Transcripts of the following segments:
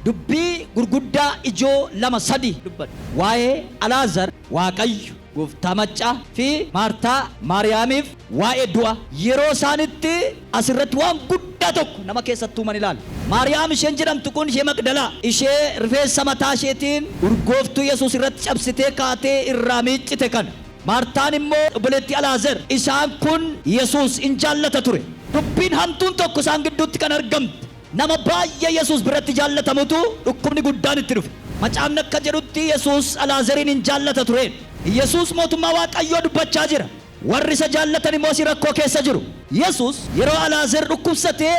Dubbii gurguddaa ijoo lama sadii dubbadhu. Waa'ee Alaazar, Waaqayyo, Gooftaa Maccaa, fi Maartaa, Maariyaamiif, waa'ee du'a. Yeroo isaan itti as irratti waan guddaa tokko nama keessatti uuman ilaali. Maariyaam isheen jedhamtu kun ishee Maqdalaa, ishee rifeensa mataa isheetiin urgooftuu Yesuus irratti cabsitee kaatee irraa miiccite kana. Maartaan immoo obboleettii Alaazar. Isaan kun Yesuus in jaallata ture. Dubbiin hamtuun tokko isaan gidduutti kan argamte Nama baay'ee Yesuus biratti jaallatamutu dhukkubni guddaan itti dhufe. Macaafni akka jedhutti Yesuus Alaazariin in jaallata ture. Yesuus Mootummaa Waaqayyoo dubbachaa jira, warri isa jaallatan immoo asii rakkoo keessa jiru. Yesuus yeroo Alaazer dhukkubsate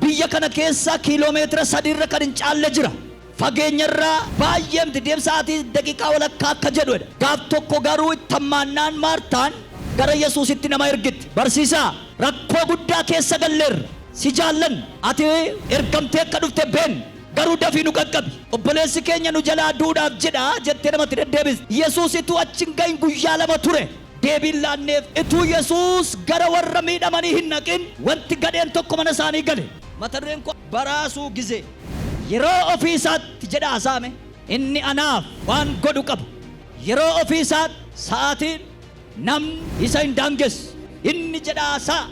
biyya kana keessaa kiiloomeetira sadii irra kan hin caalle jira. Fageenyarraa baay'ee miti, deemsa sa'aatii daqiiqaa walakkaa akka jedhu dha. Gaaf tokko garuu itti hammaannaan Maartaan gara Yesuusitti nama ergite. Barsiisaa, rakkoo guddaa keessa galleerra. Si jaallanna. Ati ergamtee akka dhufte beenna. Garuu dafii nu qaqqabi. Obboleessi keenya nu jalaa du'uudhaaf jedha jettee namatti deddeebiste. Yesuus utuu achi hin ga'in guyyaa lama ture. Deebiin laanneef. Utuu Yesuus gara warra miidhamanii hin dhaqin, wanti gadheen tokko mana isaanii gale. Mata dureen koo, Baraasuu Gizee. Yeroo ofii isaatti jedha Asaame. Inni anaaf waan godhu qaba. Yeroo ofii isaatti sa'aatiin namni isa hin daangessu. Inni jedha Asaa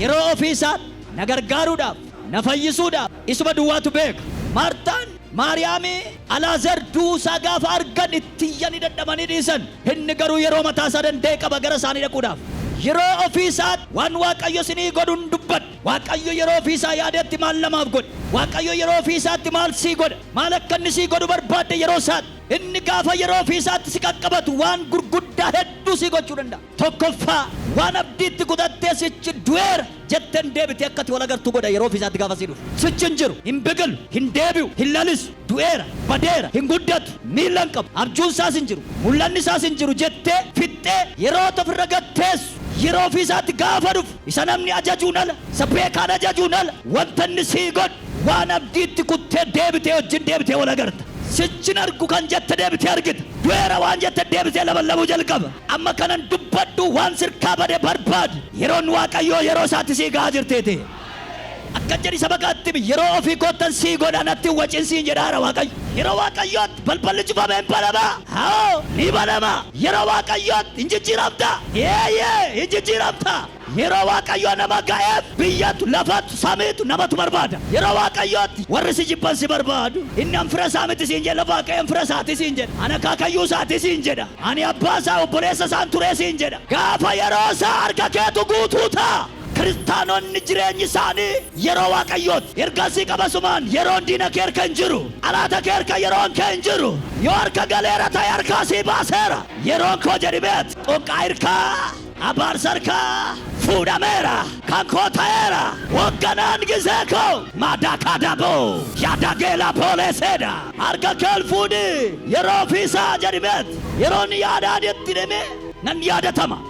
yeroo ofii isaatti na gargaaruudhaaf, na fayyisuudhaaf isuma duwwaatu beeka. Maartaan, Maariyaami, Alaazer du'uu isaa gaafa argan itti iyyanii dadhabanii dhiisan. Inni garuu yeroo mataa isaa danda'e qaba gara isaanii dhaquudhaaf. Yeroo ofii isaatti waan Waaqayyo isinii godhu hin dubbadha. Waaqayyo yeroo ofii isaa yaadetti maal namaaf godhe? Waaqayyo yeroo ofii isaatti maal sii godha? Maal akka inni sii godhu barbaadde yeroo isaatti? Inni gaafa yeroo ofii isaatti si qaqqabatu waan gurguddaa hedduu sii gochuu danda'a. Tokkoffaa, waan abdii itti kutattee sichi du'eera jetteen deebitee akka ati wal agartu godha yeroo ofii isaatti gaafa sii dhufu. Sichi hin jiru, hin biqilu, hin deebi'u, hin lalisu, du'eera, badeera, hin guddatu, miila hin qabu, abjuun isaas hin jiru, mul'anni isaas hin jiru jettee fixxee yeroo ati ofirra gad teessu yeroo ofii isaatti gaafa dhufu Isa namni ajajuun ala, isa beekaan ajajuun ala, wanta inni sii godhu, waan abdii itti kuttee deebitee wajjin deebitee wal agarta. Sichin argu kan jette deebitee argita. Du'eera waan jette deebisee labalabuu jalqaba. Amma kanan dubbadhu waan sirkaa bade barbaadi. Yeroon Waaqayyoo yeroo isaatti sii ga'aa jirtiiti. Akkas jedhii saba kaatti himi, Yeroo ofii koottan sii godha, natti hin waciin siin jedhaara Waaqayyo. Yeroo Waaqayyoo. Balballi cufame in banama? Awo, ni banama. Yeroo Waaqayyootti in jijjiiramta? Eeyyee, in jijjiiramta. Yeroo Waaqayyoo nama ga'eef biyyatu, lafatu, samiitu, namatu barbaada. Yeroo Waaqayyootti warri si jibban si barbaadu. Inni an fira isaa miti siin jedhe lafa Waaqayyoon fira isaati siin jedha. An akaakayyuu isaati siin jedha. Ani abbaa isaa, obboleessa isaan ture siin jedha. Gaafa yeroo isaa harka keetu guutuu ta'a. Kiristaanonni jireenyi isaanii yeroo Waaqayyooti. Ergasii qabasumaan yeroon diina kee harka hin jiru. Xalaata kee harka yeroon kee hin jiru. Yoo harka galeera ta'e harkaa sii baaseera. Yeroon koo jedhi beet. Xoqqaa hirkaa, abaarsa harkaa fuudhameera. Kan koo ta'eera. Hoogganaan gizee koo. Maadaa kaadaa boo. Yaadaa geelaa boolee seedaa. Harka kee ol fuudhii. Yeroo ofii isaa jedhi beet. Yeroon yaadaan itti dhimi nan yaadatama.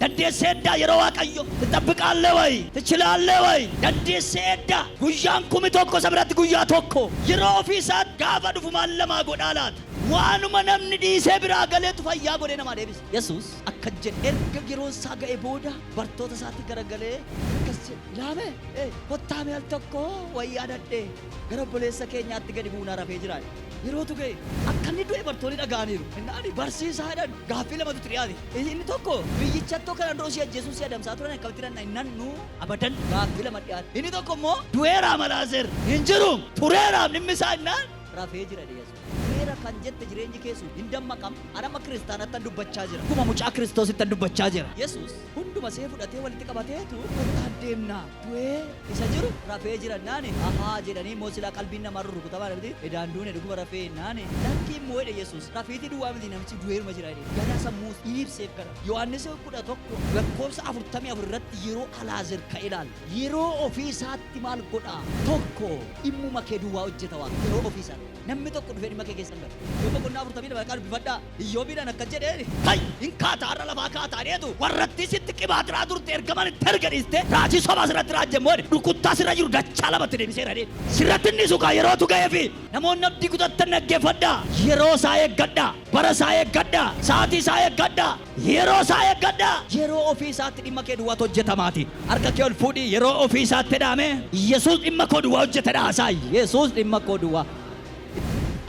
Daddeesse eddaa yeroo Waaqayyo. Tixabbiqaalle way tichilaalle way Daddeesse eddaa guyyaan kumi tokko isa biratti guyyaa tokko yeroo ofii isaatti gaafa dhufu maal namaa godhaa laata? Waanuma namni dhiisee biraa galeetu fayyaa godhee namaa deebisa. Yesuus akkas jedhe erga yeroon isaa ga'e booda bartoota isaatti garagalee akkas jedhe ilaamee ee kottaa mee al tokko wayyaa dadhee gara obboleessa keenyaatti gadi buunaa rafee jira jedhe. Yerootu ga'e akka inni du'e bartoonni dhaga'aniiru. Inni ani barsiisaa jedhan gaaffii lamatu itti dhiyaate. Inni tokko biyyichatto kana dura si ajjeesuuf si adamsaa turan akkamitti nan hin nannu abadan gaaffii lama dhiyaate. Inni tokko immoo du'eeraa malaazer hin jiru tureeraaf dhimmi isaa innaan rafee jira jedhe Yesuus. Tureera kan jette jireenyi kee sun hin dammaqam an amma kiristaanattan dubbachaa jira. Akkuma mucaa kiristoosittan dubbachaa jira. Yesuus hunduma see fudhatee walitti qabateetu kottaa deemnaa. du'ee isa jiru rafee jira naani ahaa jedhanii moo silaa qalbiin namaa rurrukutamaa namiti edaan duune dhuguma rafee naani lakkii immoo jedhe yesuus rafiitii duwwaa miti namichi du'eeruma jira jedhe gara sammuu dhiibseef kana yohaannis kudha tokko lakkoofsa afurtamii afur irratti yeroo alaazer ka ilaal yeroo ofii isaatti maal godhaa tokko dhimmuma kee duwwaa hojjeta waan yeroo ofii isaatti namni tokko dhufee dhimma kee keessa hin galu yoo boqonnaa afurtamii lama qaqqabu bifadhaa Iyyoobiidhaan akkas jedheen, Ka'i! Hin kaata, har'a lafaa kaata jedheetu warrattii sitti qibaatiraa turte ergaman itti erge dhiistee raajii sobaa sirratti raajje immoo ani rukuttaa sirra jiru dachaa lamatti deebiseera jedheen. Sirratti hin dhiisu kaa yerootu ga'eefi. Namoonni abdii kutattan dhaggeeffadhaa! Yeroo isaa eeggadhaa! Bara isaa eeggadhaa! Sa'aatii isaa eeggadhaa! Yeroo isaa eeggadhaa! Yeroo ofii isaatti dhimma kee duwwaatu hojjetamaatii. Harka kee ol fuudhii yeroo ofii isaatti jedhaa mee! Yesuus dhimma koo duwwaa hojjetedha haasa'i! Yesuus dhimma koo duwwaa.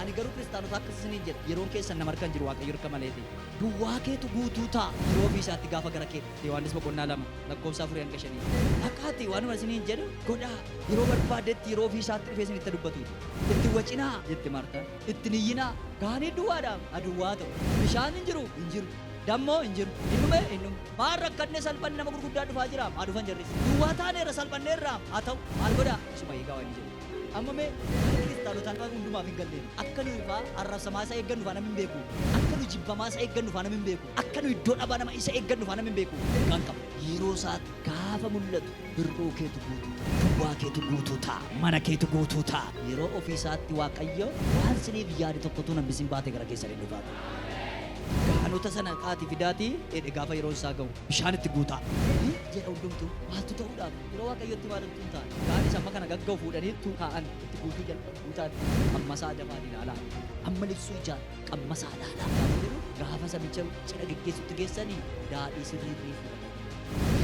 Ani garuu kiristaanota akkas isiniin jedha, yeroon keessan nama harka hin jiru, Waaqayyo harka maleeti. Duwwaa keetu guutuu ta'a. Yeroo ofii isaatti gaafa gara kee dhufu. Yohaannis boqonnaa 2 lakkoofsa 4 hanga 5. Dhaqaati waanuma isiniin jedhu godhaa. Yeroo barbaadetti yeroo ofii isaatti dhufee isinitti dubbatu. Itti wacinaa jette Maartaan. Itti hin iyyinaa. Gaanii duwwaadha, a duwwaa ta'u. Bishaan hin jiru, hin jiru. Dammoo hin jiru. Hin dhume, hin dhumu. Maal rakkanne salphanne nama gurguddaan dhufaa jiraam, haa dhufan jarris. Duwwaa taaneerra salphanneerraam, haa ta'u. Maal godhaa? Isuma eegaa waan inni jedhu. Amma mee akka Kiristaanotaa nu hundumaaf hin galleen akka nuyi faa arrabsamaa isa eeggannu faa namni hin beeku. Akka nuyi jibbamaa isa eeggannu faa namni hin beeku. Akka nuyi iddoo dhabaa nama isa eeggannu faa namni hin beeku. Ergaan qaba. Yeroo isaatti gaafa mul'atu bir'uu keetu guutuu ta'a. Duwwaa keetu guutuu ta'a. Mana keetu guutuu ta'a. Yeroo ofii isaatti Waaqayyo waan isiniif yaade tokko utuu hin hambisin baatee gara keessan in dhufa. Gaanota sana ka'aatii fidaatii dheedhe gaafa yeroon isaa ga'u bishaan itti guutaa. Ni jedha hundumtuu maaltu ta'uudhaaf? Yeroo Waaqayyotti waan ittuu hin taane. Gaanis amma kana gagga'u fuudhanii ittuu kaa'an itti guutuu jalqabu. Guutaan qammasaa dafaan ilaalaa. Amma liphsuu ijaan qammasaa ilaalaa. Gaafa jedhu gaafa sabicha cidha geggeessutti geessanii daadhii sirrii ni fuudhan.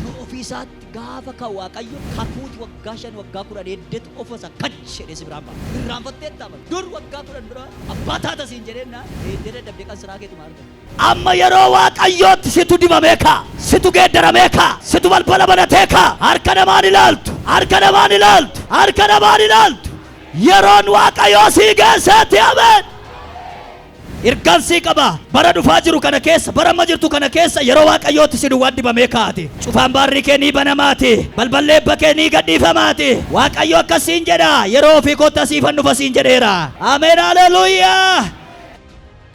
Yoo ofii isaatti gaafa ka Waaqayyo kakuuti waggaa shan waggaa kudhan eeddetu ofa isa kach jedhee si biraan ba'a. Irraanfatteetta amma dur waggaa kudhan dura abbaa taata siin jedhee naa eeddee dadhabdee qansiraa keetuma argata. Amma yeroo Waaqayyootti situ dibamee kaa? Situ geeddaramee kaa? Situ balbala banatee kaa? Harka namaa hin ilaaltu! Harka namaa hin ilaaltu! Harka namaa hin ilaaltu! Yeroon Waaqayyoo sii geesseetti! Ameen! Ergaan sii qaba! Bara dhufaa jiru kana keessa, bara amma jirtu kana keessa yeroo Waaqayyootti si duwwaan dibamee kaa'ati. Cufaan baarrii kee ni banamaati. Balballi eebba kee ni gadhiifamaati. Waaqayyo akkas siin jedha, yeroo ofii kootti asiifan dhufa siin jedheera. Ameen! Haleluuyaa!